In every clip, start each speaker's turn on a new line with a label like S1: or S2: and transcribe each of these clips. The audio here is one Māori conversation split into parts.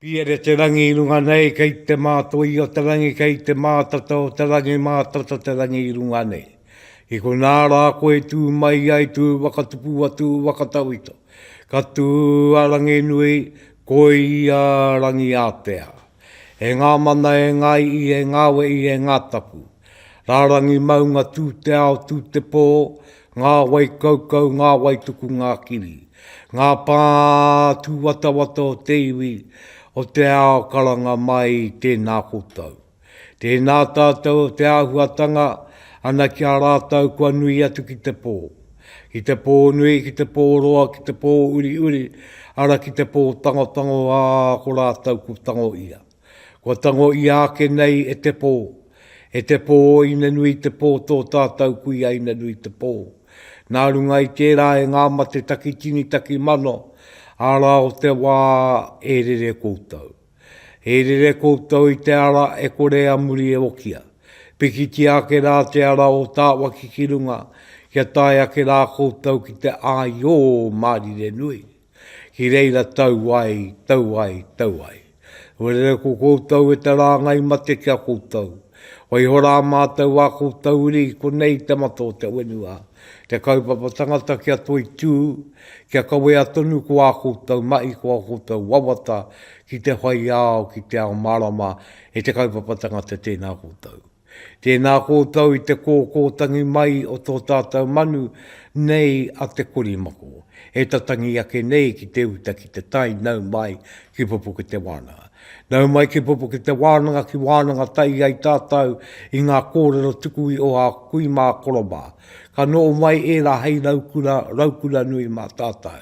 S1: Piere Te Rangi i runga nei kei te mātoi o te rangi kei te mātata o te rangi mātata te rangi i runga nei i konā rā koe tū mai ai tū whakatupu atu whakatauito ka tū a Ranginui koi a Rangiātea e ngā mana e ngā i'i e ngā we'i e ngā tapu. Rārangi maunga tū te ao tū te pō, ngā wai kaukau, ngā wai tuku ngā kiri. Ngā pā tūwatawata o te iwi, o te ao karanga mai tēnā koutou. Tēnā tātou o te āhuatanga ana ki a rātou kua nui atu ki te pō. Ki te pō nui, ki te pō roa, ki te pō uriuri, ara ki te pō tangotango ā ko rātou ko tango ia. Kua tango ia ake nei e te pō, e te pō o Ina-nui-te-pō tō tātau kui a Ina-nui-te-pō. Nā runga i tērā e ngā mate takitini takimano, ara o te wā e rere koutou. E rere koutou i te ara e kore a muri e okia. Pikitia ake rā te ara o Tāwaki ki runga, kia tae ake rā koutou ki te āio o Mārire-nui. Ki reira tau ai, tau ai, tau ai. Huarere ko koutou e te rāngai mate ki a koutou. Waiho rā mātou ā koutou uri i konei te mata o te whenua, te kaupapa tangata kia toitū, kia kawea tonu ko ā koutou mahi, ko ā koutou wawata ki te whai ao, ki te ao mārama e te kaupapa tangata tēnā koutou. Tēnā koutou i te kōkōtangi mai o tō tātou manu nei a Te Korimako, e tatangi ake nei ki te uta ki te tai nau mai ki Pupuketewānanga. Nau mai ki Pupuketewānanga ki wānanga tahi ai tātou i ngā kōrero tuku i oha kui mā koro mā. Ka noho mai ērā hei raukura, raukura nui mā tātou.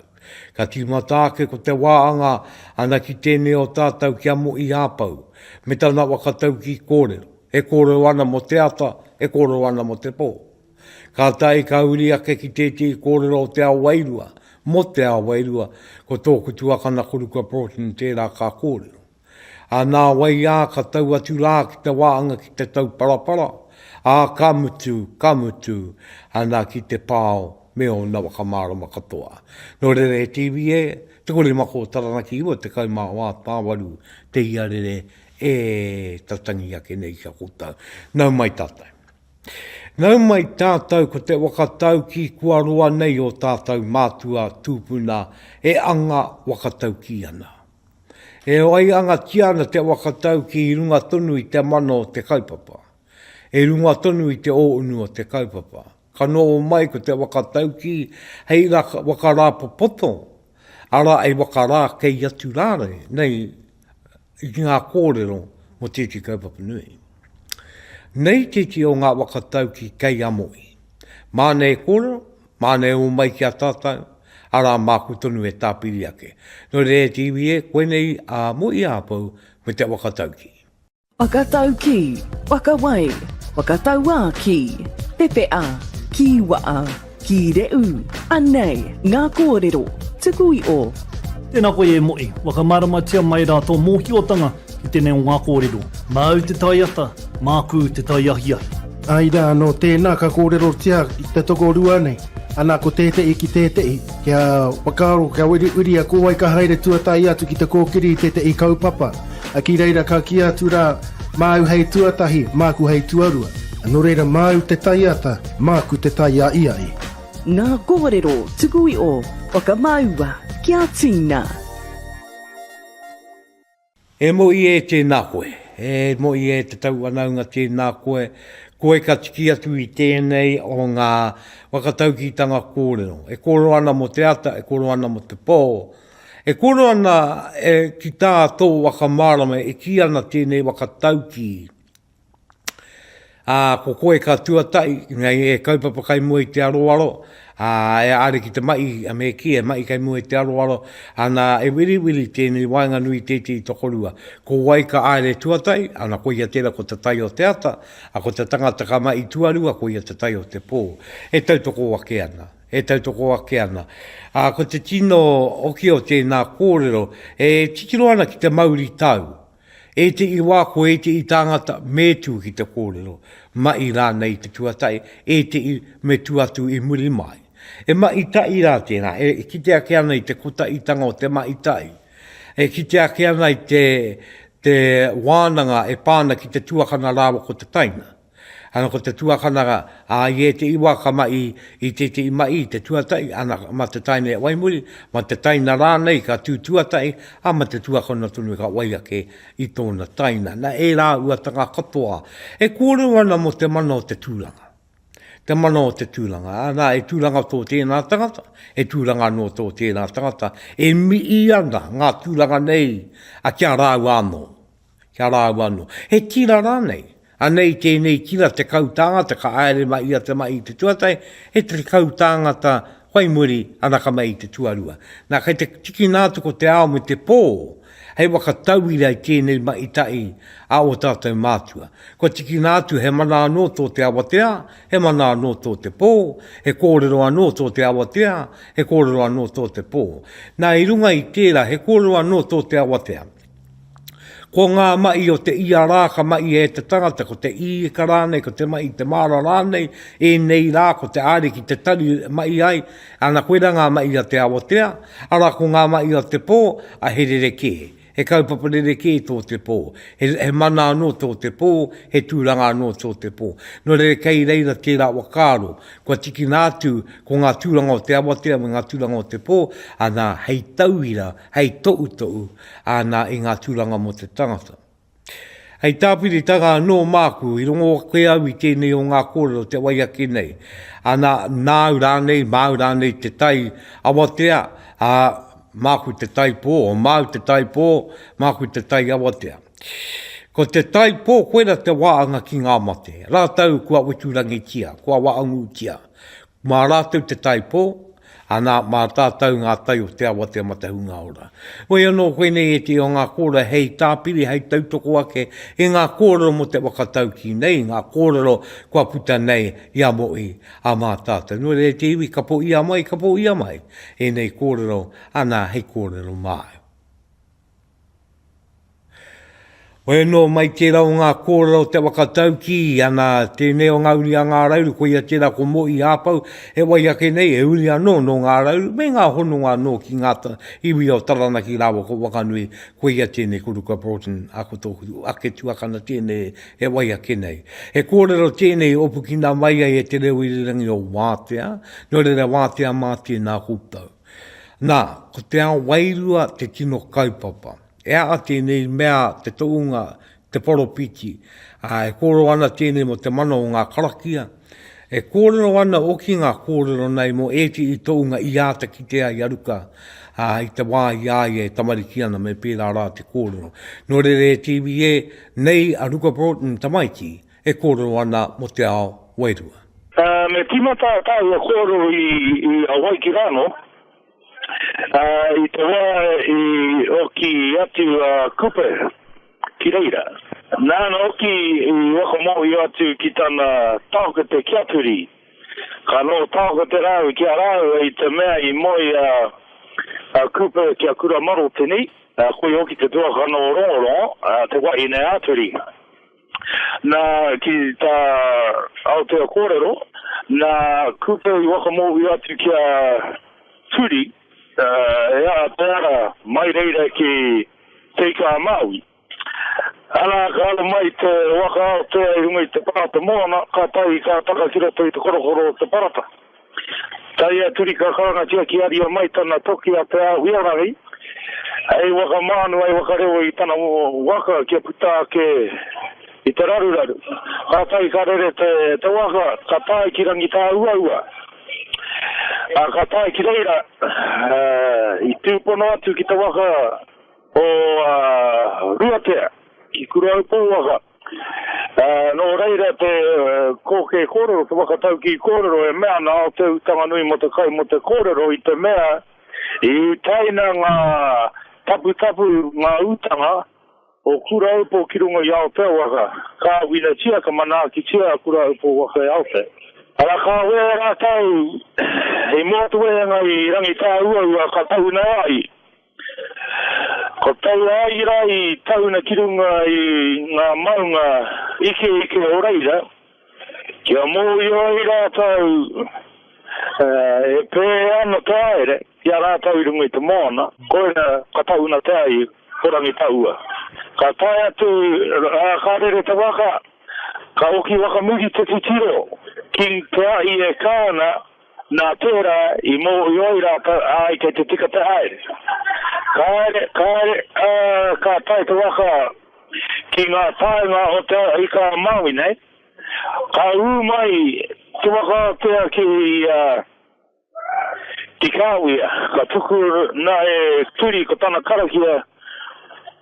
S1: Ka tīmata ake ko te wā anga ana ki tēnei o tātou ki a Moʻi Hāpau, me tana whakataukī kōrero, e kōrero ana mō te ata, e kōrero ana mō te pō. Kātahi ka huri ake ki tētehi kōrero o te ao wairua, mō te ao wairua, ko tōku tuakana ko Ruka Broughton tērā ka kōrero. Ā, nā wai ā, ka tau atu rā ki te wāhanga ki te tauparapara, ā, ka mutu, ka mutu, ana ki te pao me ōna whakamārama katoa. Nō reira he tīvī e Te Korimako Taranaki 94 tāwaru te iarere e ta tangi ake nei ki a koutou. Nau mai tātou. Nau mai tātou ko te waka taukī kua roa nei o tātou mātua tūpuna e anga waka taukī ana. E waiangatia ana te waka tau ki runga tonu i te mana o te kaupapa. I runga tonu i te ōunu o te kaupapa. Ka noho mai ko te waka tau ki hei waka rāpopoto, arā hei waka rā kei atu rānei, nei i ki ngā kōrero mō tēti kaupapa nui. Nei tēti o ngā waka tau ki kei a Mohi. Māna e kōrero, Māne ū mai ki a tātou, arā māku tonu e tāpiri ake. Nō reira e te iwi e, koinei a Mohi Āpou me te whakataukī. Whakataukī,
S2: whakawai, whakatauā ki, pepeā, kīwaā, kīreū, anei ngā kōrero, tuku i o. Tēnā koe e
S3: Mohi, whakamāramatia mai rā tō mōhiotanga. I tenei o nga korero. Ma au te taiata, maku te taiahiahi. Ai ra, no
S4: tena ka korerotia i te tokorua nei, ana ko tete'i ki tete'i, kia whakaaro, kia wiriwiria ko wai ka haere tuatahi atu ki te kokiri i tete'i kaupapa, a ki reira ka ki atu ra, ma au hei tuatahi, maku hei tuarua. No reira ma au te taiata, maku te taia'ia'i. Nga
S2: korero tuku i o. Whakamaua, kia tina.
S1: E moe e tēnā koe. E moe e te tauwhanaunga tēnā koe. Koe ka tiki atu i tēnei o ngā whakataukitanga kōrero. E kōrero ana mō te ata, e kōrero ana mō te pō. E kōrero ana ki tā tō waka mārama e kī ana tēnei waka taukī, Ā, ko koe ka tuatahi, engari e kaupapa kai mua i te aroaro, ā, e are ki te mahi, a me kī, e mahi kai mua i te aroaro, ana, e wiriwiri tēnei waenganui i tētehi tokorua. Ko wai ka haere tuatahi? Ana, koia tērā, ko te tai o te ata, ā, ko te tangata ka mahi tuarua, koia te tai o te pō. E tautoko ake ana, e tautoko ake ana. Ā, ko te tino oki o tēnā kōrero, e titiro ana ki te mauritau, Ētehi wā ko ētehi tāngata me tū ki te kōrero, mahi rānei te tuatahi, ētehi me tū atu i muri mai. E mahi tahi rā tēnā, e kite ake ana i te kotahitanga o te mahi tahi, e kite ake ana i te wānanga e pā ana ki te tuakana rāua ko te taina. Ana ko te tuakana ra, a i etei wa ka mahi i tetei mahi i te tuatahi, ana ma te taina e wai muri, ma te taina ranei ka tu tuatahi, a ma te tuakana tonu ka wai ake i tona taina. Na e ra uatanga katoa e korero ana mo te mana o te turanga. Te mana o te turanga, ana e turanga to tena tangata, e turanga ano to tena tangata, e mii ana nga turanga nei a kia raua ano. Kia rāua anō. He tira rānei? Anei tēnei tira tekau tāngata ka aere mai ia te mahi i te tuatahi, he tekau tāngata whai muri ana ka mahi i te tuarua. Nā, kei te tikina atu ko te ao me te pō hei waka tauira i tēnei mahi tahi a ō tātou mātua. Kua tikina atu he mana anō tō te awatea, he mana anō tō te pō, he kōrero anō tō te awatea, he kōrero anō tō te pō. Nā, i runga i tērā, he kōrero anō tō te awatea. Ko ngā maʻi o te ia rā ka maʻi e te tangata, ko te īka rānei, ko te maʻi te māra rānei, ēnei rā ko te Ariki te tari e maʻi ai, ana koirā ngā maʻi a te awatea, arā ko ngā maʻi o te pō, a he rerekē, he kaupapa rerekē tō te pō, he he mana anō tō te pō, he tūranga anō tō te pō. Nō reira kei reira tērā whakaaro, kua tikina atu ko ngā tūranga o te awatea me ngā tūranga o te pō, ana hei tauira, hei tohutohu āna i ngā tūranga mō te tangata. Hei tāpiritanga anō māku, i rongo ake au i tēnei o ngā kōrero te wai ake nei, ana nāu rānei, māu rānei te tai awatea, ā, māku te tai pō, māu te tai pō, māku te tai awatea. Ko te tai pō koira te waanga ki ngā mate, rātou kua weturangitia, kua waangutia, Mā rātou te taipō, anā, mā tātou ngā tai o te awa te amatahunga ora. Whoi anō koinei ētehi o ngā kōrero hei tāpiri, hei tautoko ake i ngā kōrero mō te whakataukī nei, i ngā kōrero kua puta nei i a Mohi, a mā tātou. Nō reira, te iwi, ka pōia mai, ka pōia mai ēnei kōrero, anā, hei kōrero māu. Hoi anō mai tērā o ngā kōrero te whakataukī ana tēnei o ngā uri a Ngā Rauru, koia tērā ko Mohi Hāpau, he wai ake nei he uri anō nō Ngā Rauru me ngā hononga anō ki ngā iwi o Taranaki rāua ko Whanganui, koia tēnei ko Ruka Broughton, a ko tōku ake tuakana tēnei he wai ake nei. He kōrero tēnei i opukina mai ai e te reo irirangi o Wātea, nō reira Wātea mā tēnā koutou. Nā, ko te ao wairua te tino kaupapa. E aha tēnei mea te toonga, te poropiti, ā, e kōrero ana tēnei mō te mana o ngā karakia, e kōrero ana hoki ngā kōrero nei mō ētehi toonga i āta kite ai a Ruka, ā, i te wā i a ia e tamariki ana me pērā rā te kōrero. Nō reira e tv e, nei a Ruka Broughton tamaiti, e kōrero ana mō te ao wairua. Me tīmata
S5: tāua kōrero i Hawaiki rānō, i te wā i oki atu a Kupe ki reira. Nāna hoki i whakamōhio atu ki tana taokete ki a Piri, ka noho taokete rāua ki a rāua i te mea i moe a Kupe ki a Kura Marotini, koia hoki te tuakana o Rongorongo, te wahine a Piri. Nā, ki tā Aotea kōrero, nā Kupe i whakamōhio atu ki a Turi, he aha te ara mai reira ki Te Ika-a-Māui. Arā, ka aro mai te waka Aotea i runga i te parata moana, kātahi ka taka ki roto i te korokoro o te parata. Tae a Turi ka karangatia ki aria mai tana toki a Te Ahuiarangi hei waka mānu, hei waka rewa i tana waka kia puta ake i te raruraru. Kātahi ka rere te waka, ka tae ki Rangitāuaua, ā, ka tae ki reira, i tūpono atu ki te waka o Ruatea, ki Kuraupōwaka. Ā, nō reira te kōkē kōrero, te whakataukī kōrero e mea ana, o te utanga nui mō te kai mō te kōrero i te mea, i utaina ngā taputapu, ngā utanga o Kuraaupo ki runga i Aotea waka. Ka winatia, ka manaakitia a Kuraaupo waka e Aotea. Arā, ka wera rātou i Motuhenga, i Rangitāuaua, ka tahuna ai. Ko tau āira i tauna ki runga i ngā maunga ikeike o reira, kia mōhio ai rātou e pē ana te haere ki a rātou i runga i te moana, koira ka tauna te ai ko Rangitaua. Ka tae atu rā ka rere te waka, ka oki waka muri te titiro ki te ahi e kā ana, Nā tērā, i mōhio ai rātou, āe, kei te tika te haere. Kāre, kāre, ā, ka tae te waka ki ngā taenga o te ao i kā Māui nei. Ka ū mai te wakatea ki, ā, ki Kāwia, ka tuku nā e Turi ko tana karakia,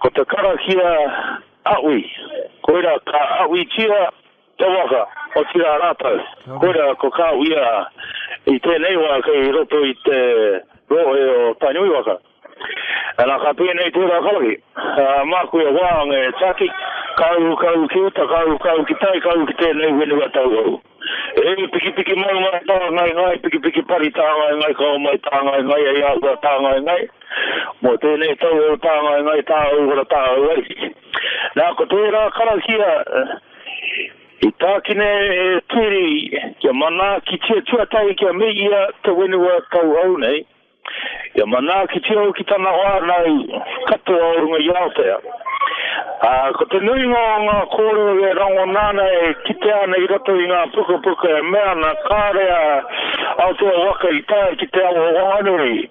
S5: ko te karakia Aʻwi. Koirā, ka Aʻwitia. Te waka, otirā rātou. Koirā ko Kāwhia i tēnei wā kei roto i te rohe o Tainui waka. Ana ka pēnei tērā karahi. Māku e wānga e Taki, kāu kau ki uta, kāu kau ki tai, kāu ki tēnei whenua tauhou. E pikipiki maunga tāngaengae, pikipiki pari tāngaengae kao mai tāngaengae hei āhua tāngaengae. Mō tēnei tauhou tāngaengae tāuhara tāuaiti. Nā ko tērā karakia. I tākina e Tiri kia manaakitia tuatahi kia mihia te whenua kauhau nei, kia manaakitia hoki tana whānau katoa o runga i Aotea. Ā, ko te nuinga o ngā kōrero e rangona ana, e kitea ana i roto i ngā pukapuka e mea ana kāore a Aotearoa Waka i tae ki te awa o Wanganui.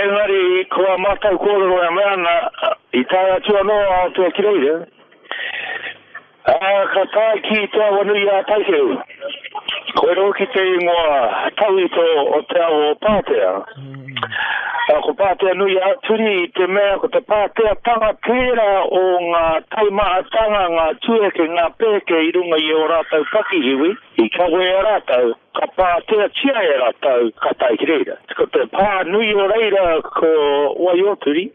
S5: Engari, ko ā mātou kōrero e mea ana, i tae atu anō a Aotea ki reira, ā, ka tae ki Te Awanui-ā-Taikehu, koia hoki te ingoa tauito o te awa o Pātea. Ā, ko Pātea-nui-ā-Turi i te mea ko te Pāteatanga tērā o ngā taimahatanga, ngā tueke, ngā pēke i runga i ō rātou pakihiwi, I kawe e rātou, ka pāteatia e rātou, ka tae ki reira. Ko te pā nui o reira ko Waioturi,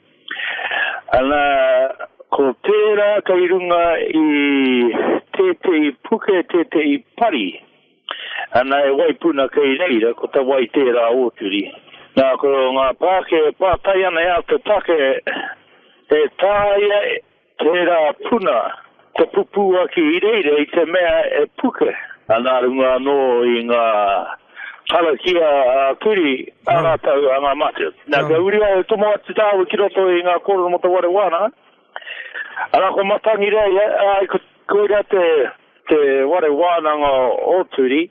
S5: ana, ko tērā kei runga i tētehi puke, tētehi pari, ana, e Waipuna kei reira, ko te wai tērā Oturi. Nā, ko ngā pāke e pātai ana e āta take, e tāia e. Tērā puna te pupuaki ireire i te mea e puke ana runga anō i ngā karakia ā-kiri a rātou angamate. Nā, kia uri au e tomo atu tāua ki roto i ngā kōrero mō te ware wānanga, arā, ko Matangireia, āe, koirā te ware wānanga o Turi.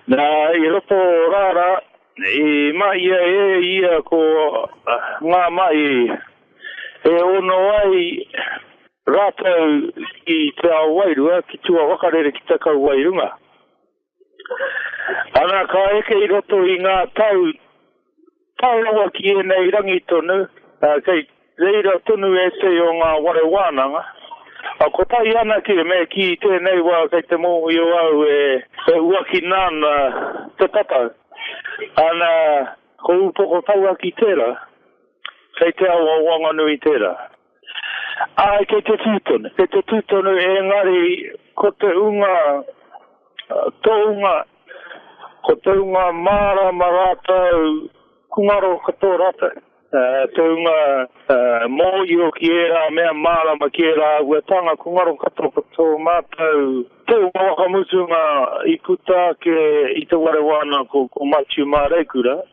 S5: Na, i roto rara, i mahia e ia ko nga mahi e ono ai ratou ki te ao wairua, ki tua wakarere ki te kauae runga. Ana, ka eke i roto i nga tau, Tae rawa ki ēnei rangi tonu, kei reira tonu ētehi o ngā whare wānanga. Kotahi anake me kī i tēnei wā kei te mōhio au e huakina ana te tatau. Ana, ko Upoko Tauaki tērā, kei te ao o Wanganui tērā. Āe, kei te tū tonu. Kei te tū tonu, engari ko te hunga tohunga, ko te hunga mārāma rātou, ko ngaro katoa rātou. Te hunga mōhio ki ērā mea, mārāma ki ērā āhuatanga, ko ngaro katoa ko tō mātou te hunga whakamutunga i puta ake i te ware wānako, ko Matiu Māreikura.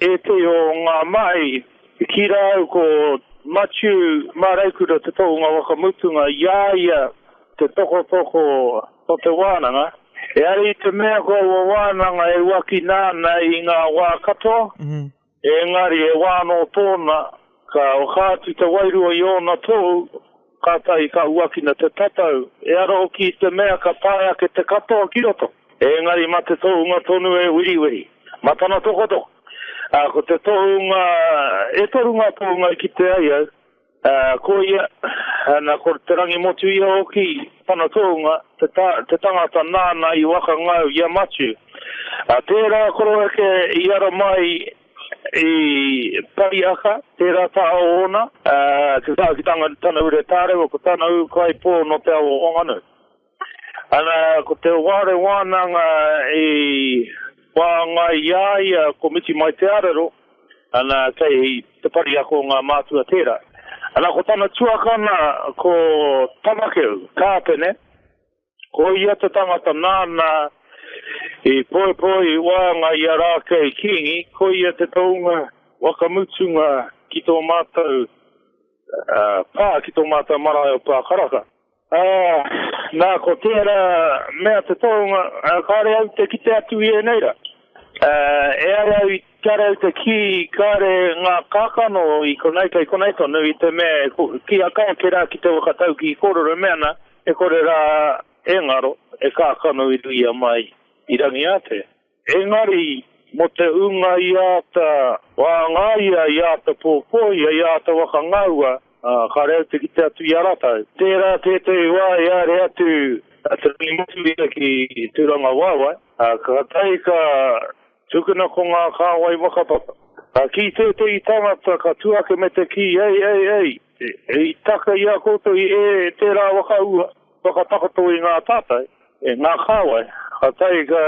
S5: E te o ngā mahi, ki rā au ko Matiu Māreikura te tohunga waka mutunga, i a ia te tokotoko o te wānanga. E ai i te mea ko aua wānanga e uakina ana i ngā wā katoa, engari he wā anō tōna Ka oha atu te wairua i ōna tohu, kātahi ka huakina te tatau, ehara hoki i te mea ka tae ake te katoa ki roto. Engari mā te tohunga tonu e wiriwiri, mā tana tokotoko. Ā, ko te tohunga, e toru ngā tohunga i kite ai au, ā, ko ia, nā, ko te rangi motu ia hoki tana tohunga, te ta, te tangata nāna i waka ngau i a Matiu. Ā, tērā koroheke i ara mai I Pariaka, tērā taha o ōna, te taha ki tana ure tārewa, ko tana ūkaipō nō te ao o Whanganui. Ana, ko Te Ware Wānanga i whāngai i a ia ko Miti Mai Te Arero, ana, kei te Pariaka o ngā mātua tērā. Ana, ko tana tuakana ko Tamakeu, Kāpene. Ko ia te tangata nāna i poipoi i waenga i a Rākei Kīngi, ko ia te tounga whakamutunga ki tō mātou pā, ki tō mātou marae o Pākaraka. Ā, nā, ko tērā mea te tounga, kāore au te kite atu i ēnei rā. Ā, e ai au i. Kia rau te kī, kāre ngā kākano i konei, kei konei tonu i te mea e kī a Kaya kē rā ki te waka taukī kōrero mea ana e kore rā e ngaro, e kākano i ruia mai i Rangiātea. Engari, mō te ūnga i āta whāngaia, i āta pōpoia, i āta wakangaua, ā, kāre au te kite atu i a rātou. Tērā tētehi wā i haere atu a Te Rangimatua ki Tūrangawaewae, ā, kātahi ka. Tukuna ko ngā kāwai whakapapa. Ka kī tētehi tangata, ka tū ake me te kī, Ei, ei, ei, i taka i a koutou i ē tērā whakaahua whakatakoto i ngā tātai, e ngā kāwai, ka tae ka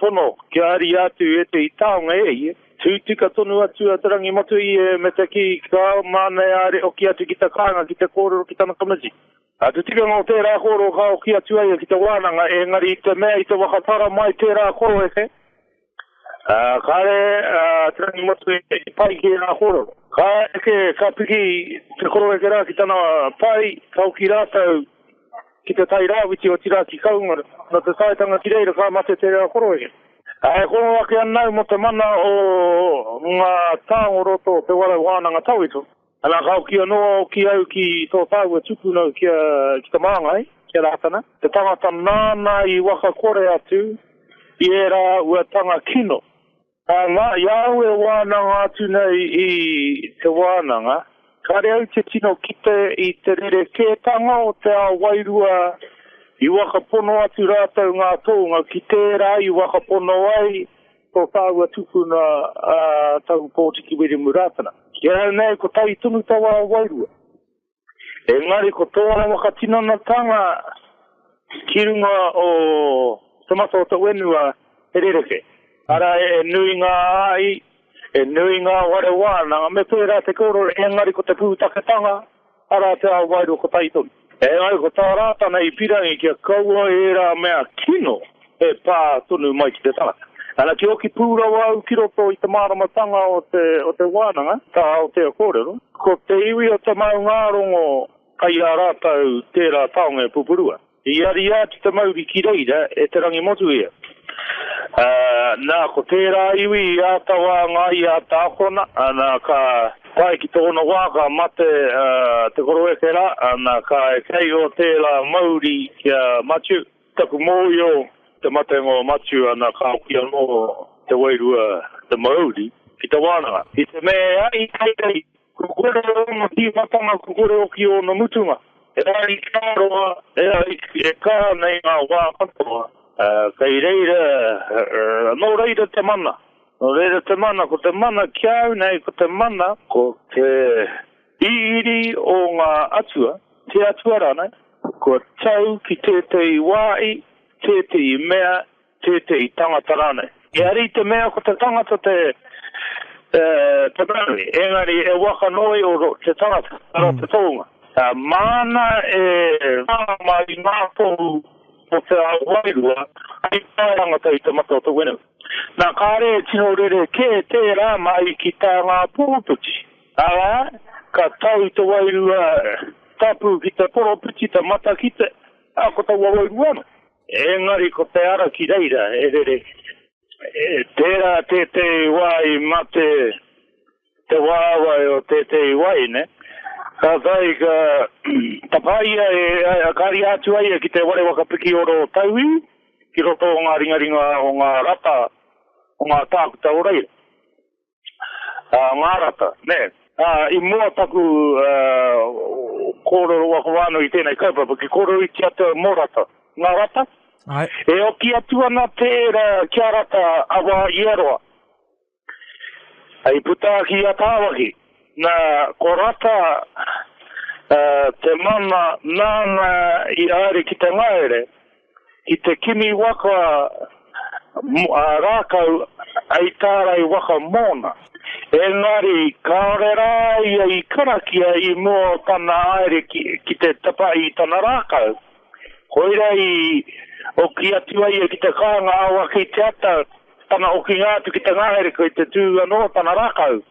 S5: tono kia ariā atu ētehi taonga e ia. Tū tika tonu atu a Te Rangimatua i ē me te kī, Ka mānaiāre hoki atu ki te kāinga ki te kōrero ki tana tamaiti. Nā te tikanga o tērā kōrero ka hoki atu ai ki te wānanga, ēngari i te mea i te whakapara mai tērā koroeke, ā, kāre ā Te Rangi Matue i pai ki ērā kōrero. Ka eke, ka piki te koroeke rā ki tana pai, ka hoki rātou ki te tai rāwhiti, otirā ki Kaunga. Nō te taetanga ki reira ka mate tērā koroeke. E kōrero ake ana au mō te mana o ngā tāngoroto o te Warau Wānanga Tawhito. Ana ka hoki anō a Oki au ki tō tāua tupuna ki a, ki te māngai, ki a Rātana. Te tangata nāna i wakakore atu i ērā uatanga kino. Ā, ngā, i a au e wānanga atu nei i te wānanga, kāre au te tino kite i te rerekētanga o te ao wairua i wakapono atu rātou ngā tōnga ki tērā i wakapono ai Ko tāua tupuna a Tahu Pōti ki Wiremu Rātana. Ki a au nei ko tai tonu taua wairua. Engari ko tōna whakatinanatanga ki runga o Te Matau-o-Tauenua he rerekē. Arā, e nui ngā āi, e nui ngā whare wānanga, me pērā te kōrero, engari ko te pūtaketanga. Arā te ao wairua kotahi tonu. Engari ko tā Rātana i pirangi kia kaua ērā mea kino e pā tonu mai ki te tangata. Ana, kia oki pū rawa au ki roto i te māramatanga o te wānanga, ka Aotea kōrero, ko te iwi o te maungārongo kai a rātou tērā taonga e pupurua. I ariā ki te mauri ki reira e Te Rangimotuia. Ā, nā, ko tērā iwi i āta wānga i āta akona, ana, ka tae ki tōna wā, ka mate te koroeke rā, ana, ka kei o tērā mauri ki a Matiu. Taku mōio te matenga o Matiu, ana, ka hoki anō te wairua, te mauri, ki te wānanga. I te mea i a ia i. Kua kore ōna tīmatanga kua kore hoki ōna mutunga. He aha i kā roa, he aha i e kā nei ngā wā katoa, kei reira, nō reira te mana. Nō reira te mana, ko te mana ki a au nei, ko te mana, ko te iriiri o ngā atua, te atua rānei, kua tau ki tētehi wāhi, tētehi mea tētehi tangata rānei. Engari i te mea ko te tangata te whanaunga, engari e waka noa i oro te tangata, ara te tohunga. Māna e whanga mai i ngā tohu o te ao wairua hei whātangata i te mata o te whenua. Nā, kāre e tino rerekē tērā mahi ki tā ngā poropiti, arā, ka tau te Wairua Tapu ki te poropiti, te matakite, ā, ko taua wairua anō. Engari ko te ara ki reira e rere. I tērā tētehi wā i mate te wāwae o tētehi wahine, kātahi ka tapā ia e, ka ria atu ai ia ki te ware waka pikioro o tauiwi, ki roto o ngā ringaringa o ngā rata o ngā tākuta o reira. ngā rata, nē. I mua taku kōrero waka wā nui i tēnei kaupapa, ki kōrero i te atua mō rata, ngā rata, e
S6: oki atu
S5: ana tērā kia rata a wā i a roa. I puta ki i a Tāwaki, nā, ko rata te mana nāna i haere ki te ngahere. Ki te kimi waka a Rākau hei tārai waka mōna, engari kāore rā ia i karakia i mua o tana haere ki te tapa i tana rākau. Koira i oki atu ai ia ki te kāinga awa kei te ata tana okinga atu ki te ngahere kei te tū anō tana rākau.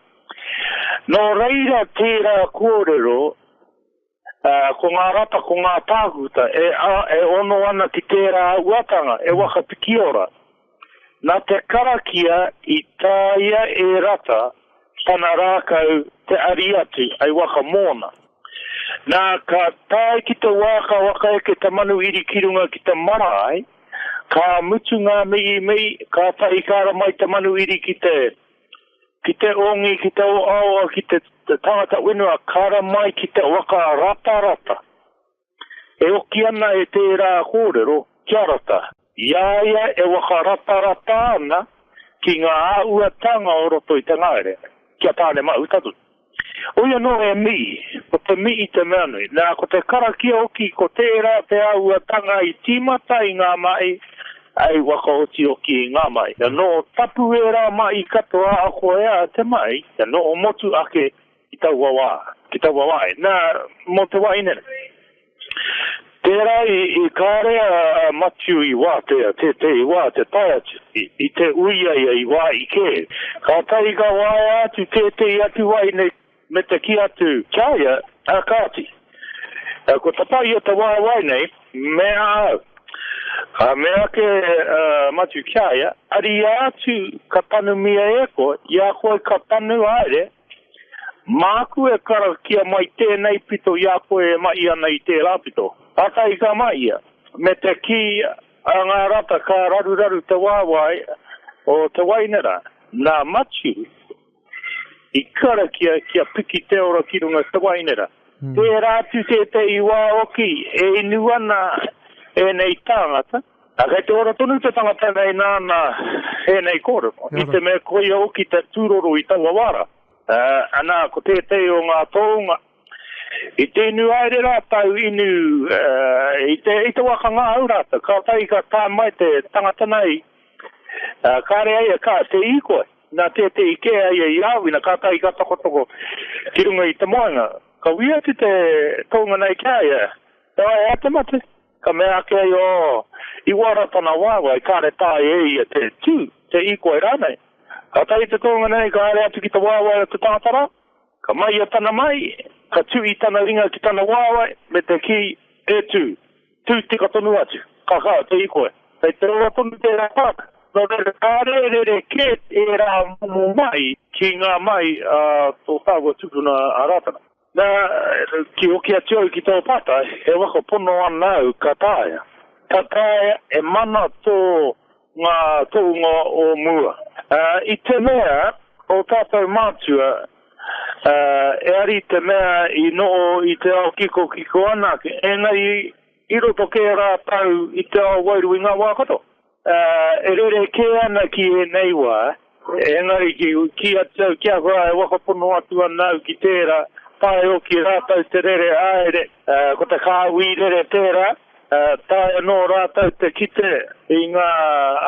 S5: Nō reira tērā kōrero Ā, ko ngā rata, ko ngā tākuta e, e ono ana ki tērā uatanga, e waka pikiora. Nā te karakia i tāia e Rata tana rākau te ari atu, hei waka mōna. Nā, ka tae ki te wā ka waka eke te manu iri ki runga ki te marae, ka mutu ngā miimii, kātahi ka ara mai te manu iri ki te. Ki te ongi, ki te oaoa, ki te tangata whenua, kara mai ki te waka ratarata. E oki ana e tērā kōrero, kia rata. I a ia e waka ratarata ana ki ngā āhuatanga o roto i te ngahere, ki a Tāne Mahuta tonu. Oi anō he mihi, ko te mihi te mea nui. Nā, ko te karakia hoki, ko tērā te āhuatanga i tīmata i ngā mahi, hei whakaoti hoki i ngā mahi. Kia noho tapu ērā mahi katoa ahakoa ea te mahi, kia noho motu ake ki taua wā, ki taua wāhi. Nā, mō te wāhi nei. Tērā i karea a Matiu i wātea tētehi wā te tae atu i te uia ia i wāhi kē. Kātahi ka waea atu tētehi atu wahine me te kī atu ki a ia, ā kāti, kua tapa ia te waewae nei me a au. Ka mea ake a Matiu ki a ia, Ariā atu ka tanumia e koe, i a koe ka tanu haere Māku e karakia mai tēnei pito i a koe e mahi ana i tērā pito. Pātai ka mahia, me te kī a ngā rata ka raruraru te wāwae o te waina rā. Nā Matiu i karakia kia piki te ora ki runga te waina rā. Tērā atu tētehi wā hoki e inu ana ēnei tāngata. A kei te ora tonu te tangata nei nāna ēnei kōrero, i te mea koia hoki te tūroro i taua wā rā. Anā, ko tētehi o ngā tōunga, i te inu haere rātou, inu i te, i te waka ngahau rātou, kātahi ka tae mai te tangata nei, kāre a ia ka te hīkoi, nā tētehi kē a ia i āwina, kātahi ka tokotoko ki runga i te moenga. Ka wī atu te tōunga nei ki a ia, e wai, e ai te mate? Ka mea ake ai, O, i uara tana wāwae, kāre tae e ia te tū, te hīkoi rānei. Ka tae te tōnga nei, ka haere atu ki te wāwae o te tangata rā, ka mahia tana mahi, ka tuhi tana ringa ki tana wāwae, me te kī, E tū, tū tika tonu atu, ka kaha te hīkoi. Kei te ora tonu tērā pāka, nō reira ka rerekē ērā momo mahi ki ngā mahi a tō tāua tupuna a Rātana. Na, ki hoki atu au ki tō pātai, he waka pono ana au ka taea? Ka taea e mana tō ngā tohunga o mua. I te mea, o tātou mātua, e ari te mea i noho i te ao kikokiko anake, engari i roto kē rātou i te ao wairua i ngā wā katoa. Ā, e rere kē ana ki ēnei wā, engari ki, ki atu au ki ahau, ā, e whakapono atu ana au ki tērā, tae hoki rātou te rere haere, ā, ko te kāhui rere tērā, ā, tae anō rātou te kite i ngā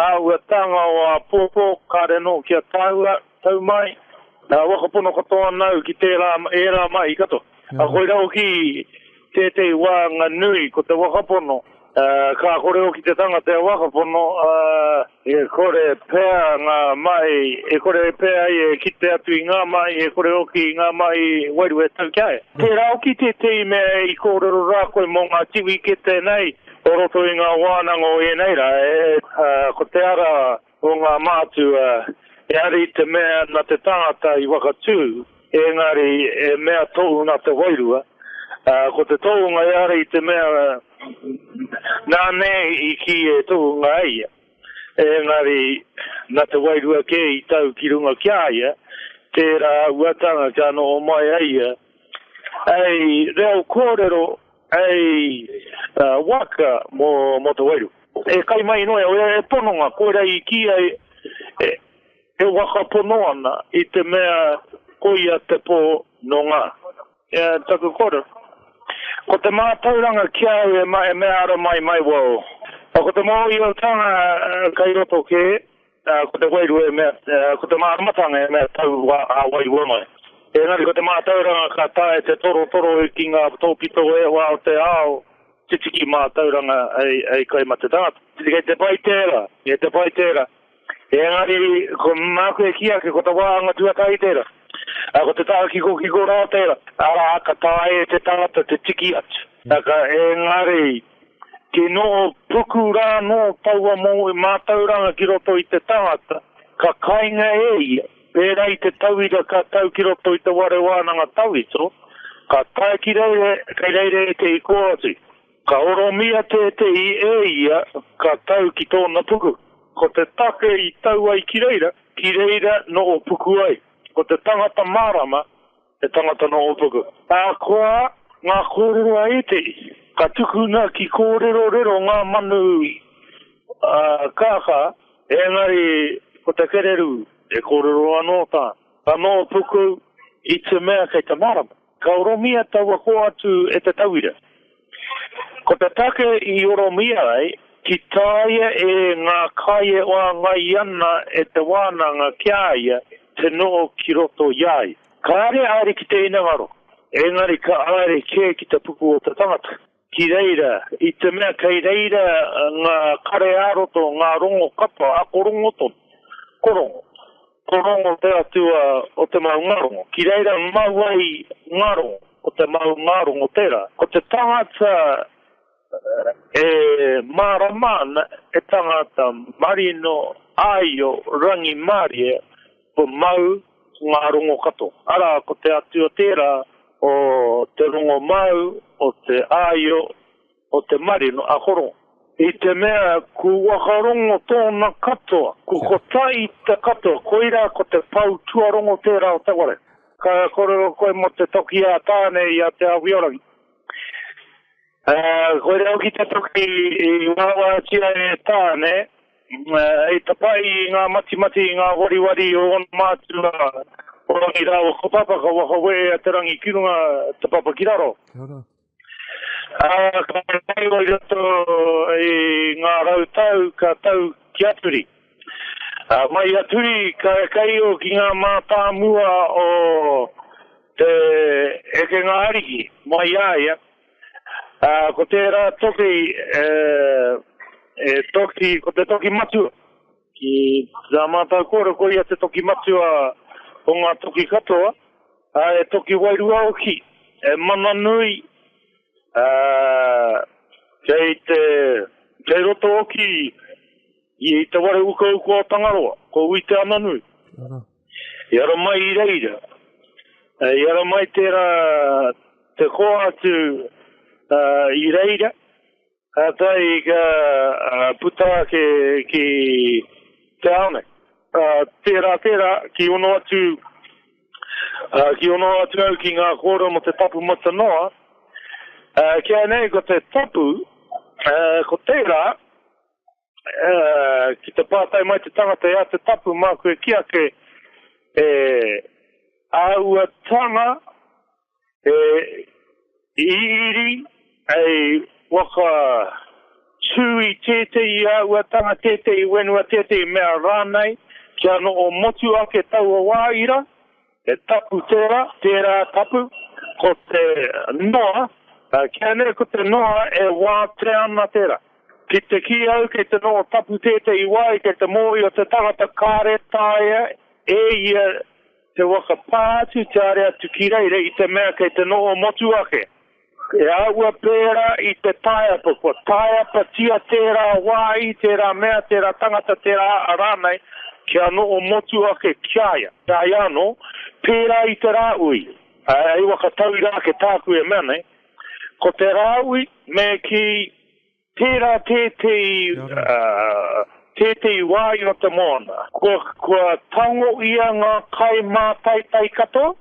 S5: āhuatanga o āpōpō, kāre anō kia taua. Tau mai, nā Wakapono katoa nāu ki tērā, ērā mahi katoa. Ā, koirā hoki tētehi wānanga nui, ko te Wakapono, ā, ka kore hoki te tangata e Wakapono, ā, e kore pea ngā mahi, e kore pea ia e kite atu i ngā mahi, e kore hoki i ngā mahi wairua e tau ki a ia. Tērā hoki tētehi mea i kōrero rā koe mō ngā tiwikete nei o roto i ngā wānanga o ēnei rā, ā, ko te ara o ngā mātua, he hari te mea na te tangata i whakatū, engari he mea tou na te wairua, ā, ko te tohunga he hari te mea nā nei i kī e tohunga e ia, engari na te wairua kē i tau ki runga ki a ia, tērā auatanga kia noho mai ai ia. Hei reo kōrero. Hei waka mō te wairu. E kai mai noa iau, e pononga, koirā i kī ai e waka pono ana i te mea koia te pō nō ngā. Ia taku koro. Ko te mātauranga ki a au e mea ara mai mai wau. Ko te mōhioatanga kai roto kē. Ko te wairua e mea, ko te māramatanga e mea tau ā-wairua mai. Engari ko te mātauranga ka taea te torotoro ki ngā tōpito e whā o te ao, te tiki mātauranga hei kai mate tangata. Kei te pai tērā, kei te pai tērā. Engari ko māku e kī ake ko te wāhanga tuatahi tērā. Ko te taha kikokiko rā tērā, arā, ka taea e te tangata te tiki atu. Engari. Kei noho puku rā anō taua moe mātauranga ki roto i te tangata, ka kainga e ia, pērā i te tauira ka tau ki roto i te ware wānanga tawhito, ka tae ki reira kei reira ētehi kōati. Ka oromia tētehi e ia ka tau ki tōna puku. Ko te take i tau ai ki reira, ki reira noho puku ai. Ko te tangata mārama. He tangata nō Ōpuku. Ahakoa ngā kōrero a ētehi, ka tukuna ki kōrerorero ngā manu kākā, engari ko te kererū e kōrero anō tā nō Ōpuku i te mea kei te mārama. Ka oromia taua kō atu e te tauira. Ko te take i oromia ai, ki tāia e ngā kai e wāngai ana e te wānanga ki a ia te noho ki roto i a ia. Kāre e haere ki te hinengaro, engari ka haere kē ki te puku o te tangata. Ki reira, i te mea kei reira ngā kare ā-roto, ngā rongo kapa, ako rongo tonu, ko rongo. Ko Rongo te atua o te maungārongo. Ki reira mau ai ngā rongo, ko te maungārongo tērā. Ko te tangata e mārama ana, he tangata marino, āio, rangimārie, ko mau ngā rongo katoa. Arā, ko te atua tērā o te rongo māu, o te āio, o te marino a Horo. I te mea ku whakarongo tōna katoa, ku kotahi te katoa, koirā ko te pou tuarongo tērā o te ware. Ka kōrero koe mō te toki a Tāne i a Te Awhiorangi. Ā, koirā hoki te toki i wāwātia e Tāne, hei tapahi i ngā matimati, i ngā wariwari o ōna mātua, o Rangi rāua ko Papa, ka whakawē a Te Rangi ki runga, te Papa ki raro. Kia ora. Ā, ka whakairo i roto i ngā rau tau ka tau ki a Turi. Ā, mai a Turi ka kaio ki ngā mātāmua o te hekenga ariki mai a ia. Ā, ko tērā toki, e, e toki, ko te toki matua. Ki tā mātau kōrero ko ia te toki matua o ngā toki katoa, ā, he toki wairua hoki, he mana nui, ā, kei te, kei roto hoki i te ware ukauka o Tangaroa, ko Ui Te Ananui. I ara mai i reira, i ara mai tērā te koa atu i reira, Kātahi ka puta ake ki te ao nei. Tērā, tērā, ki ono atu, ki ono atu au ki ngā kōrero mō te tapu mata noa, ki a nei ko te tapu, ko tērā, uh, ki te pātai mai te tangata e a te tapu, māku e ki ake, e āua tanga, e iri, e waka tū i tētei i āua tanga, tētei wenua, tētei mea rānei, kia no o motu ake taua wāira, He tapu tērā, tērā tapu, ko te noa, kia nei ko te noa e wātea ana tērā. Ki te kī au kei te noho tapu tētehi wā i te te mōhio te tangata kāre taea e ia te waka pā atu te are atu ki reira i te mea kei te noho motu ake. E āhua pērā i te taeapa, kua taeapatia tērā wāhi, tērā mea, tērā tangata, tērā aʻa rānei, kia noho motu ake ki a ia. Heoi anō, pērā i te Rāhui, hei waka tauira ake tāku e mea nei, ko te Rāhui me kī Tērā tētehi, tētehi wā i roto mōna. Kua, kua tango ia ngā kai mātaitai katoa,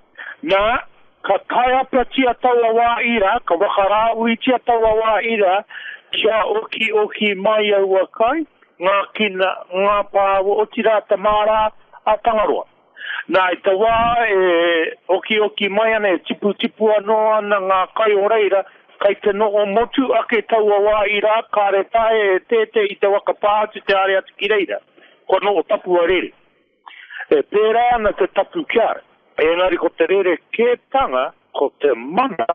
S5: nā, ka taiapatia taua wā ira, ka whakarāuitia taua wā ira, kia okioki mai aua kai, ngākina, ngāpā, otirā te māra a Tangaroa. Nā, i te wā e okioki mai ana, e tiputipu anō ana ngā kai o reira, kai te noho motu ake taua wā irā, kāre taea e tētē i te waka pā atu te haere atu ki reira. Kua noho tapu a rere. E pērā ana te tapu ki a au. Engari ko te rerekētanga, ko te mana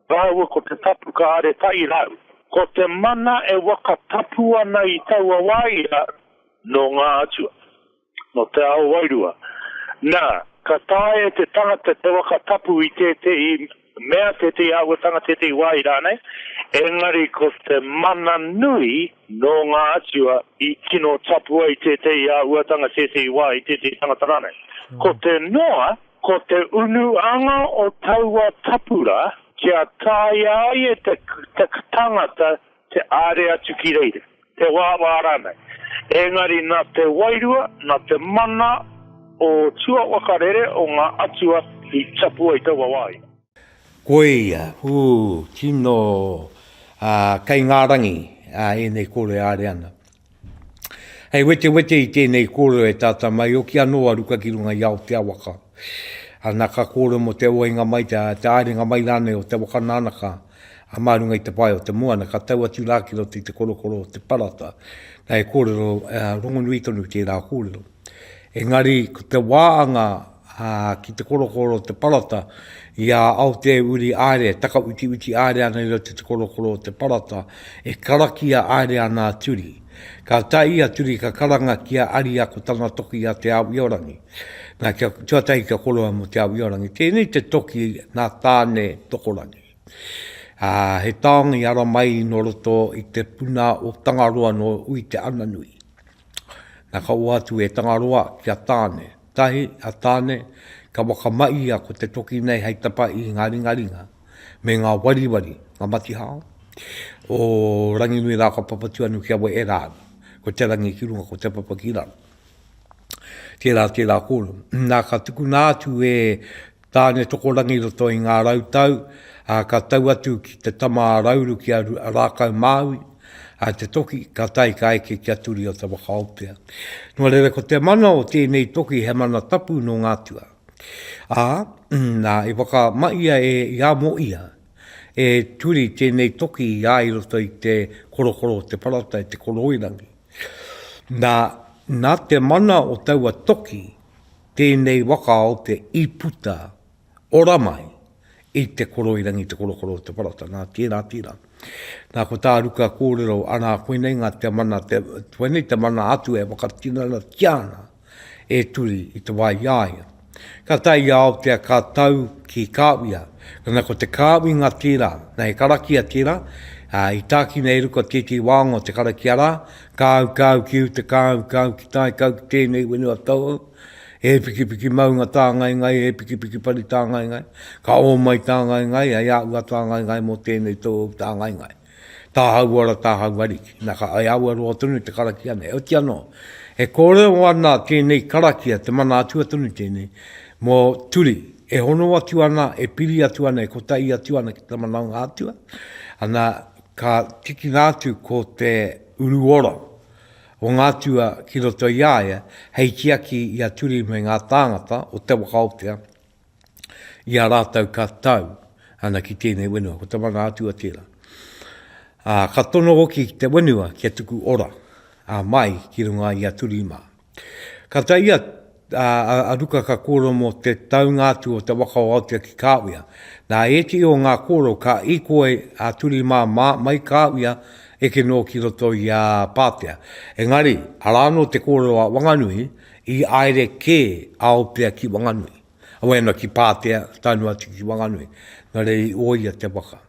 S5: rāua ko te tapu ka haere tahi rāua. Ko te mana e waka tapu ana i taua wā irā, nō ngā atua. Nō te ao wairua. Nā, ka taea e te tangata te waka tapu i tētehi mea, tētehi āhuatanga, tētehi wāhi rānei, engari ko te mana nui nō ngā atua i tino tapu ai tētehi āhuatanga, tētehi wāhi, tētehi tangata rānei. Ko te noa, ko te unu anga o taua tapu rā, kia taea ai e te tangata Te āre atu ki reira, te wāwā rānei. Engari nā te wairua, nā te mana o tuawaka rere o ngā atua i tapu ai taua wāhi. Koia,
S1: ū, tino, ā, kei ngā rangi, ā, ēnei kore āre ana. Hei wetewete i tēnei kōrero e tātā mai hoki anō a Ruka ki runga i a Aotea waka. Ana ka kōrero mō te oinga mai, te āringa mai rānei o te waka nānaka a mā runga i te pae o te moana, ka tau atu rā ki roto i te korokoro o te parata. Nā, he kōrero rongonui tonu tērā kōrero. Engari, ko te wā a ngā. ā, ki te korokoro o te parata, i a Aoteuri Aere, takawitiwiti aere ana i roto i te korokoro o te parata, e karakia aere ana a Turi. Ka tae a Turi ka karanga ki a Aria ko tana toki a Te Ao-io-rangi. Na, kia, tuatahi kia koroa mo Te Ao-io-rangi. Tēnei te toki na Tane Tokorangi. Ā, he taonga i ara mai no roto i te puna o Tangaroa no Ui-te-ana-nui. Na, ka oa atu e Tangaroa ki a Tane. Tahi, a Tane, ka whakamaia ko te toki nei hei tapa i ngā ringaringa me ngā wariwari, ngā matihao, o Ranginui rā ka Papatūānuku kia wehe rā ana. Ko te rangi ki runga, ko te papa ki raro. Tērā, tērā kōrero. Nā, ka tukuna atu e Tāne-tokorangi roto i ngā rau tau, ā, ka tau atu ki te tama a Rauru ki a Rākau-māui, ā, te toki, ka tae ka eke ki a Turi-o-Tawakaopea. Nō reira ko te mana o tēnei toki he mana tapu nō ngā tua. Ā, nā, i whakamahia e Iamoia, e Turi tēnei toki i a i roto i te korokoro o te parata i te koroirangi. Nā, nā te mana o taua toki, Tēnei waka o te i puta ora mai i te koroirangi, te korokoro o te parata. Nā, tērā, tērā. Nā, ko tā Ruka kōrero, anā, koinei ngā te mana, te, koinei te mana atu e whakatinanatia ana e Turi i te wā i a ia. Ka tae i a Aotea, ka tau ki Kāwia. Nā, ko te kāwinga tērā, nā, he karakia tērā, ā, i tākina e Ruka tētehi wāonga o te karakia rā, Kāu, kāu ki uta, kāu, kāu ki tae, kāu ki tēnei whenua tauhou, he pikipiki maunga tāngaengae, he pikipiki pari tāngaengae, ka ō mai tāngaengae, hei āua tāngaengae mō tēnei tauhou tāngaengae. Tāhau ora, tāhau ariki. Nā, ka ai aua roa tonu te karakia nei. Heoti anō, e kōrero ana tēnei karakia, te mana atua tonu tēnei, mō Turi, e hono atu ana, e piri atu ana, e kotahi atu ana ki te manaunga atua, ana, Ka tikina atu ko te uru ora o ngā tua ki roto i a ia hei tiaki i a Turi me ngā tāngata o Te Wakaotea i a rātou ka tau ana ki tēnei whenua. Ko te mana atua tērā. Ā, ka tono hoki ki te whenua kia tuku ora, ā, mai ki runga i a Turi mā. Ka tae ia a Ruka ka kōrero mō te taunga atu o te waka o Aotea ki Kāwia. Nā ētehi o ngā kōrero ka īkoi a Turimāmā mai Kāwia eke noa ki roto i a Pātea. Engari, arā anō te kōrero a Wanganui, i aere kē a Aotea ki Wanganui, awai ana ki Pātea, taenua atu ki Wanganui, nō reira i ōia te waka.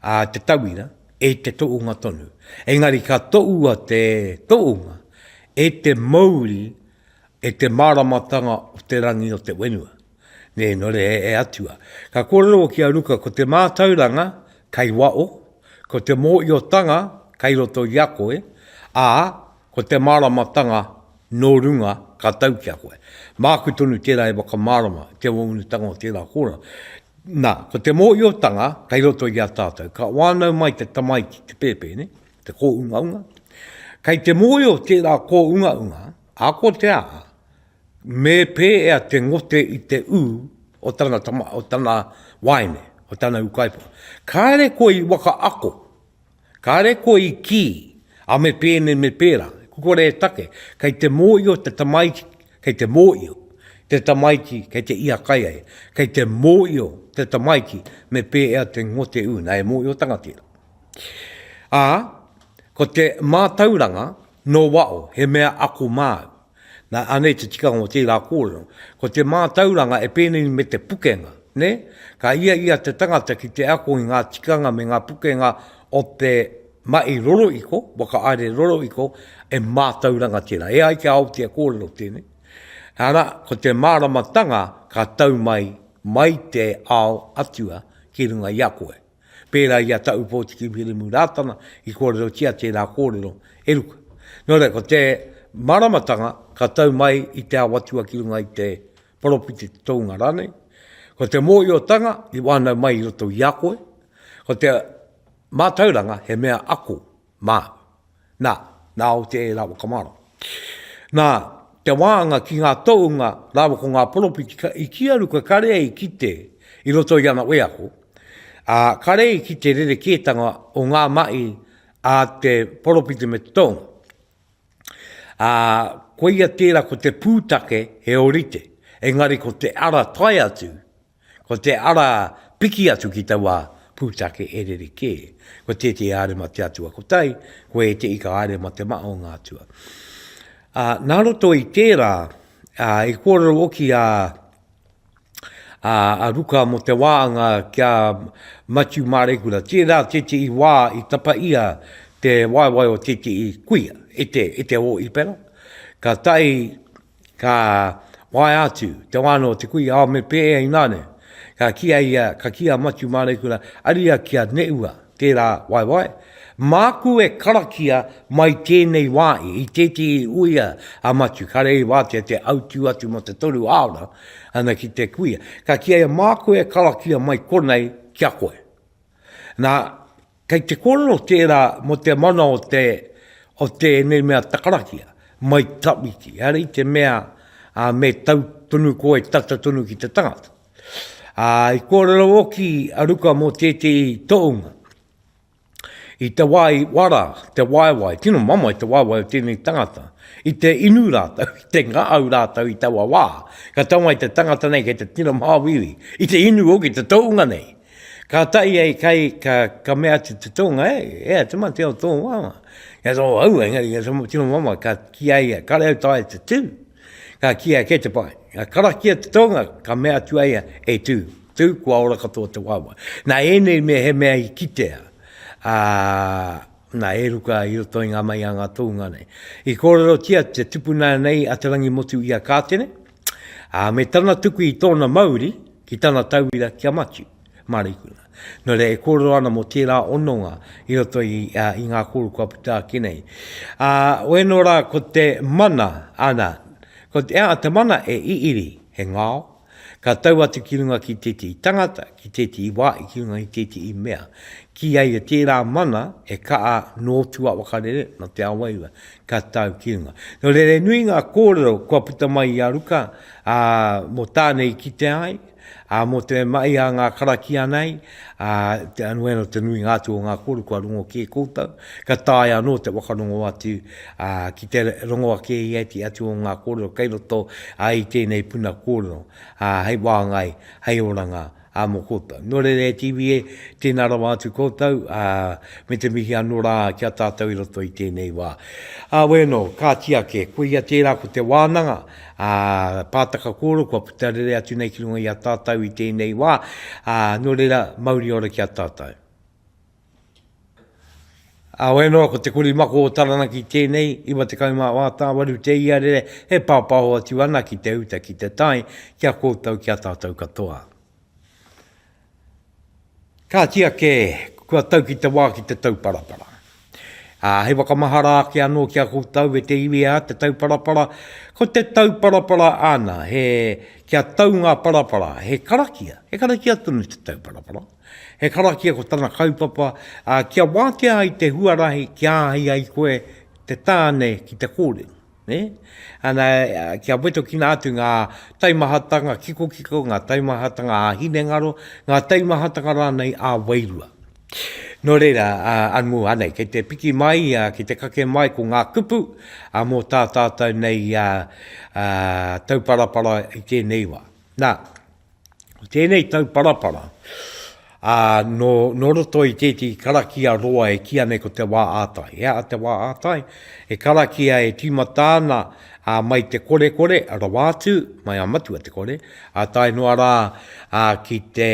S1: a te tauira e te toonga tonu. Engari ka toua te toonga e te mouri e te maramatanga o te rangi o te wenua. Ne no re e Atua. Ka korero ki a Ruka ko te matauranga kai wao, ko te mooiotanga kai roto i a koe, a Ko te māramatanga nō runga ka tau ki a koe. Māku tonu tērā e whakamārama i te waunutanga o tērā kōrero. Nā, ko te mōhiotanga kei roto i a tātou. Ka wānau mai te tamaiti, te pēpēne, te kōungaunga. Kei te mōhio tērā kōungaunga, akotea, me pēea te ngote i te ū o tana, o tana waeine, o tana ūkaipō. Kāre koe i wakaako. Kāre koe i kī, a me pēnei me pērā, ko kore e take, kei te mōio te tamaiti, kei te mōio te tamaiti kei te ia kai ai, kei te mōio te tamaiti me pēea te ngote ūna e mōiotanga tērā. Ā, ko te mātauranga nō waho he mea ako māu, Nā, anei te tikanga o tērā kōrero. Ko te mātauranga e pēnei me te pukenga, nē? Ka ia i a te tangata ki te ako i ngā tikanga me ngā pukenga o te mahi rorohiko, whakahaere rorohiko, e mātauranga tērā. E ai ki a Aotea kōrero tēnei, arā, ko te māramatanga ka tau mai, mai te ao Atua ki runga i a koe. Pērā i a Ta Upōtiki Wiremu Rātana i kōrerotia tērā kōrero, e ruku. Nō reira, ko te māramatanga ka tau mai i te ao atua ki runga i te poropiti, te tounga rānei, ko te mōhiotanga i wānau mai i roto i a koe, ko te mātauranga he mea ako. Mā. Nā, nā o te e rāua ka mārama. Nā, te wāanga ki ngā tohunga rāua ko ngā poropiti ka, i kīa ruka kare ai ki te, i roto i ana wheako, ā, kare ai ki te rerekētanga o ngā mahi a te poropiti me te tohunga. Ā, koia tērā ko te pūtake he orite, engari ko te ara tae atu, Ko te ara piki atu ki taua pūtake e rerekē, ko tētehi haere mate atua kotahi, ko ētehi ka haere mate mahaonga atua. Ā, nā roto i tērā, ā, i kōrero hoki a, a, a Ruka mō te wāanga kia Matiu Māreikura, tērā tētehi wā i tapa ia te waewae o tētehi kuia e te, e te hōhipera, ka tae Ka waea atu te wānau o te kui, ao me pēhea i nane. Ka kīa ia, ka kīa a Matiu Māreikura, aria ki a Neua tērā waewae, Māku e karakia mai tēnei wāhi i tētehi uia a Matiu, kare i wātea te autū atu mō te toru āona ana ki te kuia. Ka kīa ia, Māku e karakia mai konei ki a koe. Nā, Kei te kōrero tērā mō te mana o te, o tēnei mea takarakia, mai tawhiti, ehara i te mea me tau tonu koe tata tonu ki te tangata. Ā, i kōrero hoki a Ruka mō tētehi tohunga, i te wā i wara te waewae, tino mamae te waewae o tēnei tangata, i te inu rātou, i te ngahau rātou i taua wā, ka tau mai te tangata nei kei te tino māuiui, i te inu hoki te tohunga nei. Ka tae ai kai, ka, ka mea atu te tōnga, e, e a te mate o tō māma. Ia tō au, engari ia tō tino māma, ka kia ia, ka reo tae te tū. Ka kia, kei te pai. Ka karakia te tōnga, ka mea atu a ia, e tū, tū, kua ora katoa te wāwae. Nā ēnei mea he mea i kitea, ā, nā, e ruka i roto i ngā mahi a ngā tōunga nei. I kōrerotia te tupuna nei a Te Rangi Motu i a Kātene, Ā, me tana tuku i tōna mauri ki tana tauira ki a Matiu, Mareikuna. Nō reira, e kōrero ana mō tērā hononga i roto i, ā, i ngā kōrero kua puta ake nei. Ā, wēnō rā ko te mana, ana, ko te, ā, te mana e iri, he ngao, ka tau atu ki runga ki tētehi tangata, ki tētehi wā, i ki runga i tētehi mea. Kīia ia tērā mana e kaha nō tua wakarere, nō te awaeua, ka tatau ki runga. Nō reira, nui ngā kōrero kua puta mai i a Ruka, ā, mō tāna i kitea ai, ā, mō te mahi a ngā karakia nei, ā, te anō anō te nuinga atu o ngā kōrero kua rongo kē koutou, ka taea anō te whakarongo atu, ā, ki te rongo ake i ētahi atu o ngā kōrero kei roto, ā, i tēnei puna kōrero, ā, hei wāngai, hei oranga, Ā, mō koutou. Nō reira e te iwi e, tēnā rawa atu koutou, ā, me te mihi anō rā ki a tātou i roto i tēnei wā. Ā, wē nō, kāti ake, koia tērā ko te wānanga, ā, pātaka kōrero kua puta rere atu nei ki runga i a tātou i tēnei wā, ā, nō reira, mauri ora ki a tātou. Heoi anō, ko te kuri mako o Taranaki tēnei, 98 tāwaru te iarere e pāpāho atu ana ki te uta, ki te tae, ki a koutou, ki a tātou katoa. Kāti ake, kua tau ki te wā ki te tauparapara. Ā, hei whakamahara ake anō ki a koutou e te iwi ā te tauparapara, ko te tauparapara āna, he, kia tau ngā parapara, he karakia, he karakia tonu te tauparapara. He karakia ko tana kaupapa, ā, kia wātea ai te huarahi kia āhei ai koe te tāne ki te kōrero. Ne? Ana, kia wetokina atu ngā taimahatanga kikokiko, ngā taimahatanga ā hinengaro, ngā taimahatanga rānei ā wairua. Nō reira, anmū anei, kei te piki mai, kei te kake mai ko ngā kupu mō tā tātou nei tauparapara i tēnei wā. Nā, Tēnei tauparapara, ā, nō, nō roto i tētahi karakia roa e kīa nei ko Te Wā ā-Tai. He aha Te Wā ā-Tai? He karakia e tīmata ana ā, mai te korekore rawa atu, mai a Matua Te Kore, ā tae noa rā ā, ki te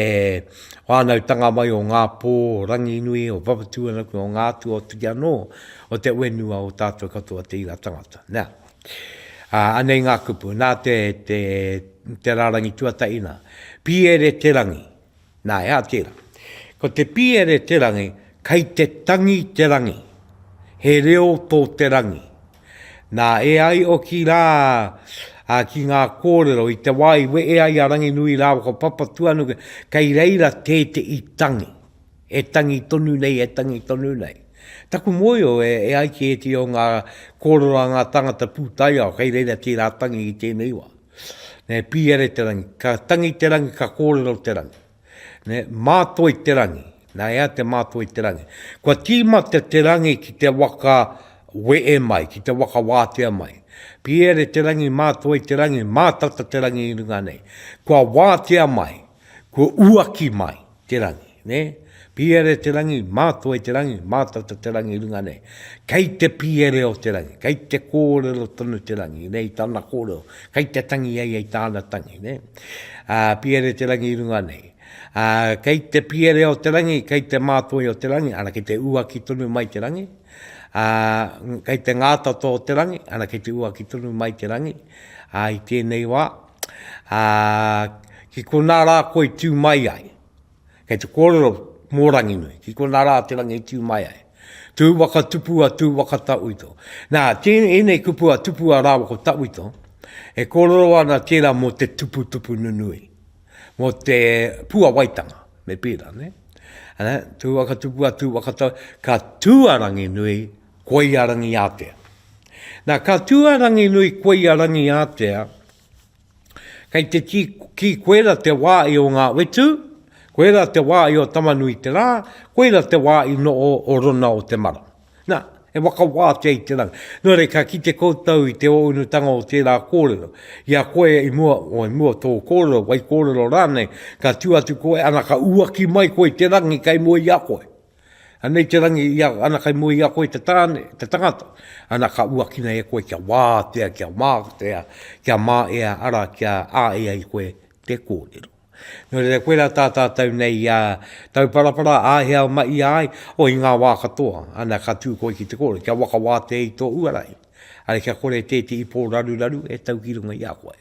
S1: whānautanga mai o Ngā Pō, o Ranginui, o Papatūānuku, o Ngā Atua, o te whenua o tātou katoa te iwi a tangata. Nā, Ā, anei ngā kupu, nā te, te, te rārangi tuatahi nā. Pīere Te Rangi. Nā, e hā, tērā. Ko te pīere Te Rangi, kei te tangi te rangi. He reo tō te rangi. Nā, e ai hoki rā ā, ki ngā kōrero, i te wā i wehe ai a Ranginui rāua ko Papatuanuku, kei reira tētehi tangi. e tangi tonu nei, e tangi tonu nei. Taku mōhio e ai ki ētehi o ngā kōrero a ngā tāngata pūtaiao kei reira tērā tangi i tēnei wā. Ne, pīere te rangi, ka tangi te rangi, ka kōrero te rangi. Ne, mātoi te rangi, nā ea te mātoi te rangi. Kua tīmata te rangi ki te waka weē mai, ki te waka wātea mai. Pīere te rangi, mātoi te rangi, mātata te rangi i runga nei. Kua wātea mai, kua uaki mai. te rangi, nē? Pīere te rangi, mātua i te rangi, mātata te rangi i runga nei. Kei te pīere o te rangi, kei te kōrero tonu te rangi, nē, i tāna kōrero, kei te tangi ai i tāna tangi, nē? Ā, pīere te rangi i runga nei. Ā, kei te pīere o te rangi, kei te mātoi o te rangi, ana, kei te uaki tonu mai te rangi, ā, kei te ngātata o te rangi, ana, kei te uaki tonu mai te rangi, ā, i tēnei wā, ā, ki konā rā koe i tū mai ai. Kei te kōrero mō Ranginui, ki konā rā te rangi i tū mai ai. Tū waka tupua, tū waka tauito. Nā, ēnei kupu a tupua rāua ko tauito, e kōrero ana tērā mō te tuputupu nunui, mō te puawaitanga, me pērā, nē? Tū waka tupua, tū waka tauito, ka tū a Ranginui, Koia Rangiātea. Nā, ka tū a Ranginui koia Rangiātea, kei te tī ki koera te wā i o Ngā Whetū, koera te wā i o Tamanui te Rā, koera te wā i noho o Rona o te Mara. Nā, e whakawātea i te rangi. Nō reira, ka kite koutou i te ōunutanga o tērā kōrero. I a koe i mua, o i mua tō kōrero, wai kōrero rānei, ka tū atu koe, ana ka uaki mai koe i te rangi kei mua i a koe. Anei te rangi ia, ana kei mua i a koe te tāne, te tangata, ana ka uakina e koe kia wātea, kia mātea, kia mā ea, ara kia ā ea i koe te kōrero. Nō reira koe rā tā tātou nei ia tauparapara āhea ma i ai, o i ngā wā katoa, ana ka tū koe ki te kōrero, kia waka wātea i tō uarahi, ara kia kore tēti i pōraruraru e tau ki runga i a koe.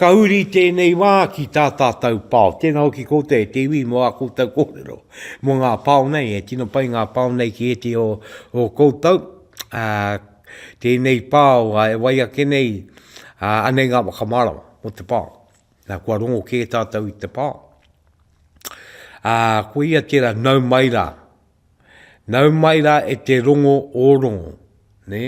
S1: Ka uri tēnei wā ki tā tātou pao. Tēnā hoki koutou e te iwi mō ā koutou kōrero mō ngā pao nei. E tino pai ngā pao nei ki ētehi o o koutou. Tēnei pao e wai ake nei, anei ngā whakamārama mō te pao. Na, kua rongo kē tātou i te pao. Koia tērā, nau mai rā. Nau mai rā e te rongo o rongo, nē?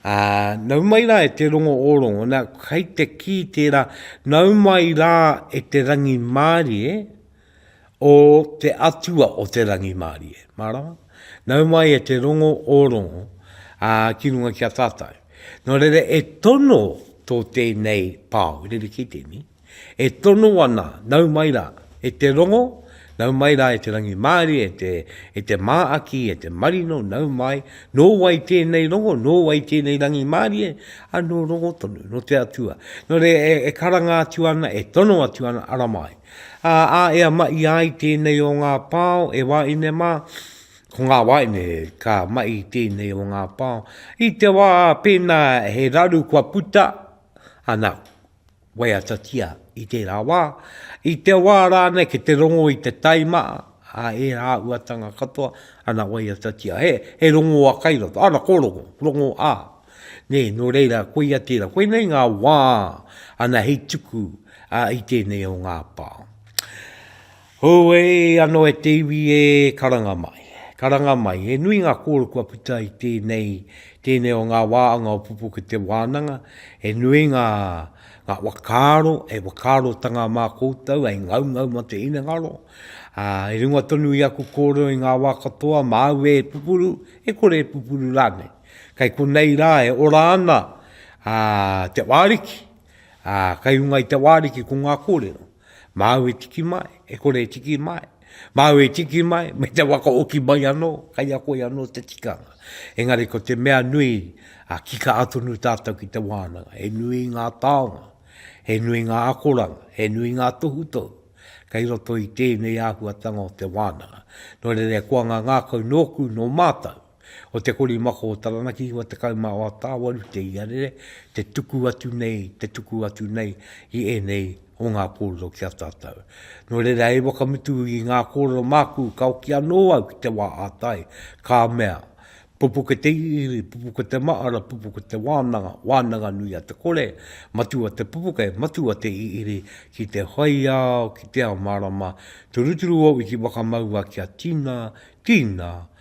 S1: Ā, nau mai rā e te rongo o rongo, nā, kei te kī tērā, nau mai rā e te rangimārie o te Atua o te rangimārie. Mārama? Nau mai e te rongo o rongo, ā, ki runga ki a tātou. Nō reira, e tono tō tēnei pao, rerekē tēnei, E tono ana, nau mai rā, e te rongo, nau mai rā e te rangimārie, e te māaki, e te marino, nau mai, nō wai tēnei rongo, nō wai tēnei rangimārie, anō rongo tonu, nō te Atua. Nō reira, e karanga atu ana, e tono atu ana, ara mai. Ā, ā, e amaʻi ai tēnei o ngā pao, e wāʻine mā, ko ngā wāʻine ka maʻi i tēnei o ngā pao, i te wā pēnā he raru kua puta, anā, Waiatatia i tērā wā, i te wā rānei ki te rongo i te taima a ērā āhuatanga katoa, ana waiatatia, he, he rongo a kai roto, ana ko rongo, rongo a. Nē, nō reira, koia tērā, koinei ngā wā, ana hei tuku a, i tēnei o ngā pā. Hooe ano e te iwi e karanga mai, karanga mai, he nui nga koro kua puta i tenei, tenei o nga waanga o Pupukete Wananga, he nui nga, nga wakaaro, he wakaarotanga ma koutou hei ngaungau ma te hinengaro, i runga tonu i aku korero i nga wa katoa ma au e pupuru, e kore e pupuru ranei. Kei konei ra e ora ana te Waariki, kai runga i te Waariki ko nga korero. Māu e tiki mai, e kore e tiki mai. Māu e tiki mai, me te wakaoki mai anō, kei a koe anō te tikanga. Engari ko te mea nui, ā, ki kā tonu tātou ki te wānanga. He nui ngā taonga, he nui ngā akoranga, he nui ngā tohutohu kei roto i tēnei āhuatanga o te wānanga. Nō reira e koanga ngākau nōku, nō mātou, Ko te korimako o Taranaki 96 te iarere, te tuku atu nei, te tuku atu nei i ēnei o ngā kōrero ki a tātou. Nō reira hei whakamutu i ngā kōrero māku ka hoki anō au ki te wā ā tai, ka mea, Pupuke te iriiri, pupuke te mahara, pupuke te wānanga, wānanga nui a te kore, matua te pupuke, matua te iriiri, ki te whaiao, ki te ao mārama, turuturu o wiki whakamaua kia tina, tina,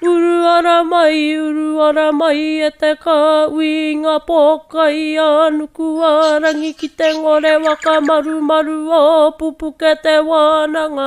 S7: Uru ara mai, uru ara mai e te kāuī Ngā pōkai a Nukuārangi ki te ngore Whakamarumaru ō pupuke te wānanga